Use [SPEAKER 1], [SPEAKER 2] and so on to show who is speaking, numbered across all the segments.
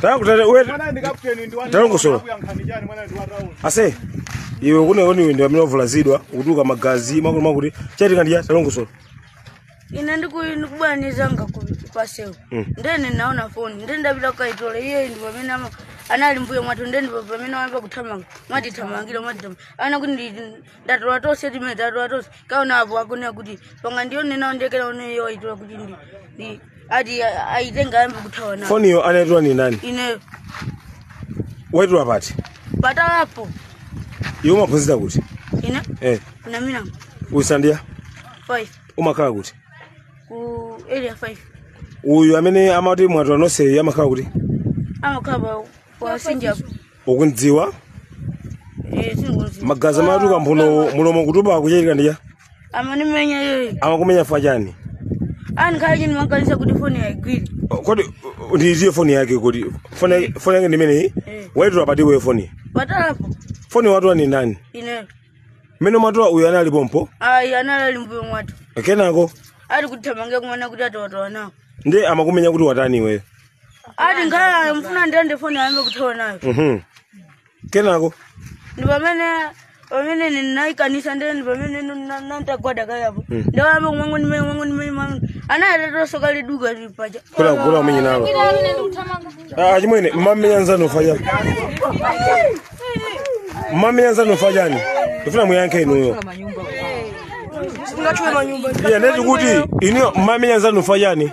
[SPEAKER 1] tangu tata uwe Mwana ndi kapteni ndi wani. Tangu solo. Akuyankhani chani mwana ndi wa round. ase iwe kunenoni iwe ndi amene wavulazidwa kutuluka magazi akuti chachitika nchiyani talongosola
[SPEAKER 2] ine ndiku- ndikubaniza nga ku- pasewu Mm. ndiye ndinaona foni nde ndapita kukaitola iye ndi pamene ama- anali mmbuyo mwathu nde ndipo pamene wayamba kuthamanga kutithamangira kutithamangira amvekere kuti ndi- tatola tonse chimene tatola tonse kaona apo akunena kuti panga ndione nawo ndiye akaioneyo aitola kuti ndi ndi ati a- aitenga ayambe kuthawa nawo foniyo anaitola ndi ndani
[SPEAKER 1] ine waitola pati patalapo iwe umaphunzira kuti ine
[SPEAKER 2] eh kunamira usandiya 5 umakhala
[SPEAKER 1] kuti
[SPEAKER 2] ku area 5 uyu amene
[SPEAKER 1] amati mwatola nonse amakhala kuti amakhala
[SPEAKER 2] pa wasinjapo ukumudziwa Eh, ndingomdziwa. magazi
[SPEAKER 1] akutuluka mphuno mulomo kutupa chachitika nchiyani Amandimenya
[SPEAKER 2] iyeyo. amakumenya chifukwa chani
[SPEAKER 1] Ani kaya
[SPEAKER 2] ndinamukaniza kuti foni aigwire. kodi uh,
[SPEAKER 1] ndi iye foni yake kodi foni yake- foni yake ndimeneyi Eh. waitola pati iwe foni
[SPEAKER 2] Patalapo. foni watola
[SPEAKER 1] ndi ndani
[SPEAKER 2] Ine. mmene
[SPEAKER 1] mwatola uyu anali pompo Ayi anali
[SPEAKER 2] mmbuyo mwathu. kenako
[SPEAKER 1] Ali kuthamangira
[SPEAKER 2] kumanena kuti tatola nawo. ndiye amakumenya kuti
[SPEAKER 1] watani iweyo ati
[SPEAKER 2] ngala amfuna atenge foni ayambe kuthawa nayo Mhm.
[SPEAKER 1] kenako
[SPEAKER 2] ndi pamene pamene ndinamukaniza ndiye pamene nantagwada kaye apo ndiye wayamba kumwangu ndimene kumwangu ndimene mwangu anayatatoso kaliduka lili paja kula kula umenye
[SPEAKER 1] nalo ah chimwene mmamenya nzanu chifukwa mmamenya nzanu chifukwa chani ndifuna muyankhe inuyo
[SPEAKER 2] eya ndati kuti
[SPEAKER 1] inuyo mmamenya nzanu chifukwa chani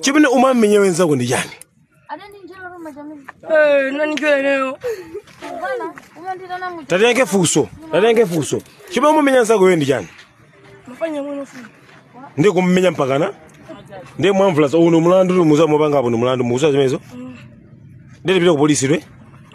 [SPEAKER 1] chimene umamenyera mnzako ndi chani
[SPEAKER 2] Eh, nani njole leo?
[SPEAKER 1] tayankha funso tayankha funso chimene umamenyera mnzako iwe ndi chani Mafuna ndione
[SPEAKER 2] nawo foni. ndiye
[SPEAKER 1] kumumenya mpakana ndiye mwamvulaza uwu ndi mulandu muza mupangapo ndi mulandu mukudziwa zimenezo nditapita ku polisi iwe